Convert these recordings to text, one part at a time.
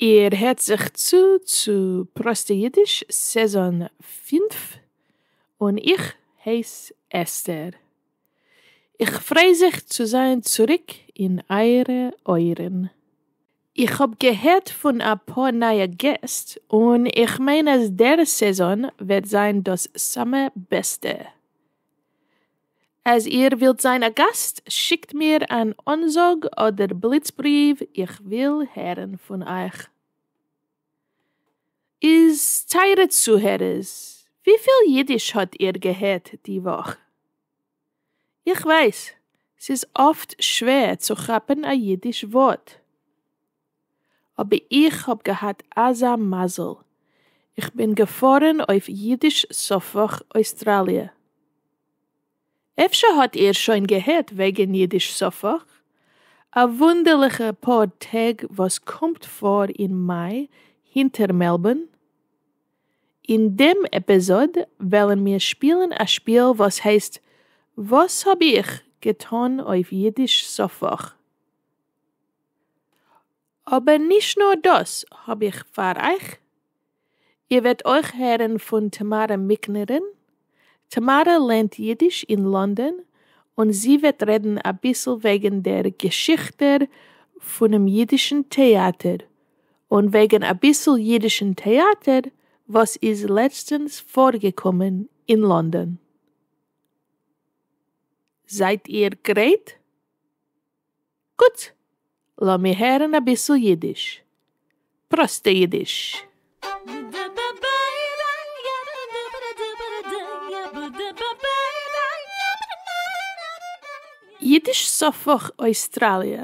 איר הערט זיך צו צו פראסטע אידיש סעזאן פֿינף, און איך הייס אסתר. איך פריי זיך צו זיין צוריק אין אייערע אויערן. איך האב געהערט פון אפאר נייע געסט און איך מיין אז דער סעזאן וועט זיין דאס סאמע בעסטע. אז איר ווילט זיין א גאסט, שיקט מיר אן אנזאג אדער בליץ בריוו, איך וויל הערן פון אייך. איז טייערע צוהערערס, וויפיל אידיש האט איר געהערט די וואך? איך ווייס, ס'איז אפט שווער צו כאפן א אידיש ווארט. אבער איך האב געהאט אזא מזל, איך בין געפארן אויף אידיש סופאך אוסטראליע. אפשר האט איר שוין געהערט וועגן אידיש סופאך? א וואונדערליכע פאר טעג וואס קומט פאר אין מאי הינטער מעלבארן. אין דעם עפיזאד וועלן מיר שפילן א שפיל וואס הייסט וואס האב איך געטון אויף אידיש סופאך? אבער נישט נאר דאס האב איך פאר אייך, איר וועט אויך הערן פון טאמארע מיקנערין, טאמארע לערנט אידיש אין לאנדאן און זי וועט רעדן אביסל וועגן דער געשיכטער פונעם אידישן טעאטער און וועגן אביסל אידישן טעאטער וואס איז לעצטענס פארגעקומען אין לאנדאן. זייט איר גרייט? גוט! לאמיר הערן אביסל אידיש. פראסטע אידיש. אידיש סופֿך אויסטראליע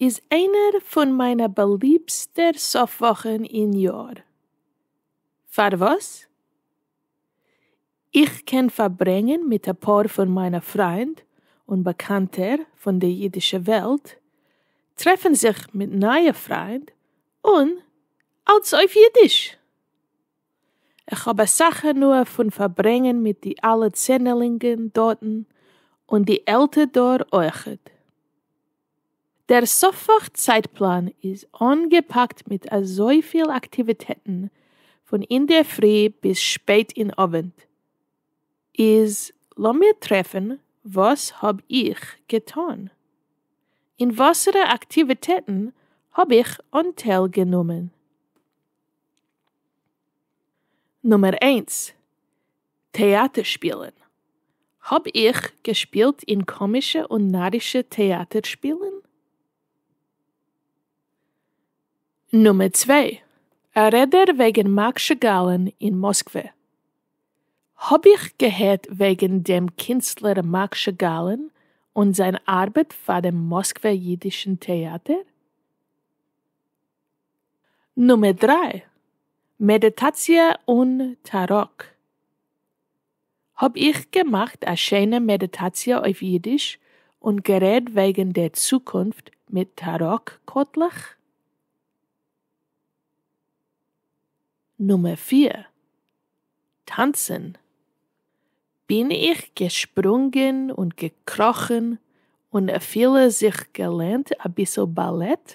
איז איינער פון מיינע באליבסטע סוף וואכן אין יאר. פארוואס? איך קען פארברענגען מיט אפאר פון מיינע פריינד און באקאנטער פון די אידישע וועלט, טרעפן זיך מיט נייע פריינד, און אלס אויף אידיש! איך האב אסאך הנאה פון פארברענגען מיט די אלע צענערלינגען דארטן, און די עלטער דור אויכעט. דער סופח צייטפלאן איז אנגעפאקט מיט אזויפיל אקטיוויטעטן פון אינדערפרי ביז שפעט אין אווענט, איז לאמיר טרעפן וואס האב איך געטון? אין וואסערע אקטיוויטעטן האב איך אנטייל גענומען? נומער איינס, טעאַטער שפּילן. האָב איך געשפּילט אין קאָמישע און נאַרישע טעאַטער שפּילן? נומער צוויי, אַ רעדער וועגן מאַק שאַגאַלן אין מאָסקווע. האָב איך געהערט וועגן דעם קינסטלער מאַק שאַגאַלן און זײַן אַרבעט פֿאַר דעם מאָסקווער ייִדישן טעאַטער? נומער דריי, מעדיטאציע אן תערוק. האב איך געמאכט א שיינע מעדיטאציע אויף אידיש און גערעד וועגן דער צוקונפט מיט תערוק קארטלעך. נומער פיר, טאנצן. בין איך געשפרונגען און געקראכן און אפילו זיך געלערנט אביסל באלעט.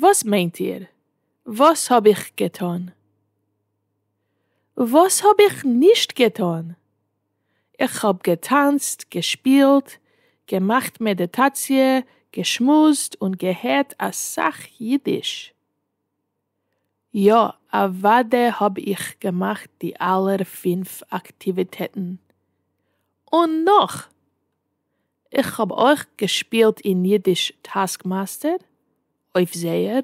וואס מיינט איר וואס האב איך געטון? וואס האב איך נישט געטון? איך האב געטאנצט, געשפילט, געמאכט מעדיטאציע, געשמועסט און געהערט אסאך אידיש. יא, אוודאי האב איך געמאכט די אלע פֿינף אקטיוויטעטן, און נאך! איך האב אויך געשפילט אין אידיש טאסקמאסטער, אויף זייער,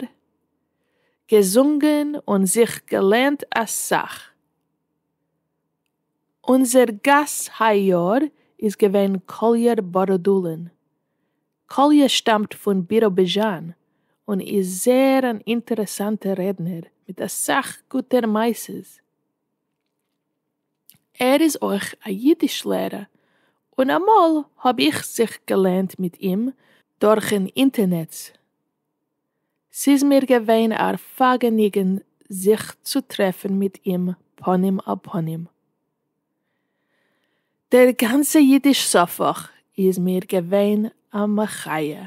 געזונגען און זיך געלערנט אסאך. אונזער גאס היי יאר איז געווען קאליער בארדולין, קאליע שטאמט פון ביראביזשאן און איז זייער אן אינטערעסאנטער רעדנער מיט אסאך גוטע מעשות. ער איז אויך א אידיש לערע און אמאל האב איך זיך געלערנט מיט אים דורכן אינטערנעץ. ס'איז מיר געווען א פאגעניגען זיך צו טרעפן מיט אים פנים אל פנים. דער גאנצע אידיש ספך איז מיר געווען א מחיה.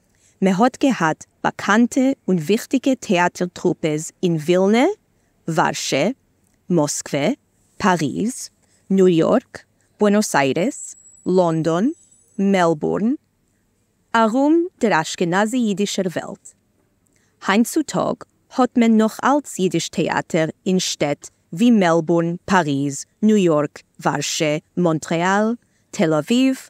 מען האט געהאט באקאנטע און וויכטיגע טעאטער טרופעס אין ווילנע, ווארשע, מאסקווע, פאריז, ניו יארק, בוענאס איירעס, לאנדאן, מעלבורן, ארום דער אשכנזי אידישער וועלט. היינט צו טאג האט מען נאך אלץ אידיש טעאטער אין שטעט ווי מעלבורן, פאריז, ניו יארק, ווארשע, מאנטרעאל, תל אביב,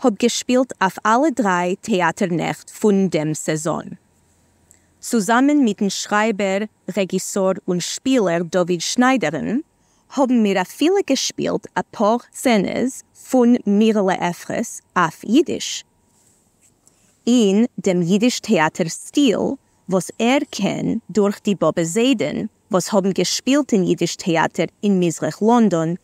האב געשפילט אויף אלע דריי טעאטער נעכט פון דעם סעזאן. צוזאמען מיטן שרייבער, רעגיסאר און שפילער דוד שניידער'ן האבן מיר אפילו געשפילט אפאר סצענעס פון מירעלע עפרעס אויף אידיש, אין דעם אידיש טעאטער סטיל וואס ער קען דורך די באבע זיידען וואס האבן געשפילט אין אידיש טעאטער אין מזרח לאנדאן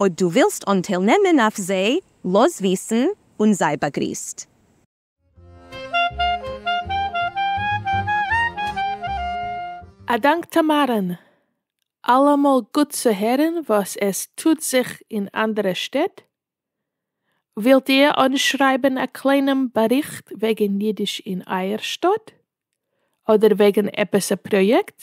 אויב דו ווילסט אנטייל נעמען אויף זיי, לאז וויסן און זיי באגריסט. א דאנק טעמארען! אלעמאל גוט צו הערן וואס עס טוט זיך אין אנדערע שטעט. ווילט איר אנשרייבן א קליינעם באריכט וועגן אידיש אין אייער שטאט? אדער וועגן עפעס א פראיעקט?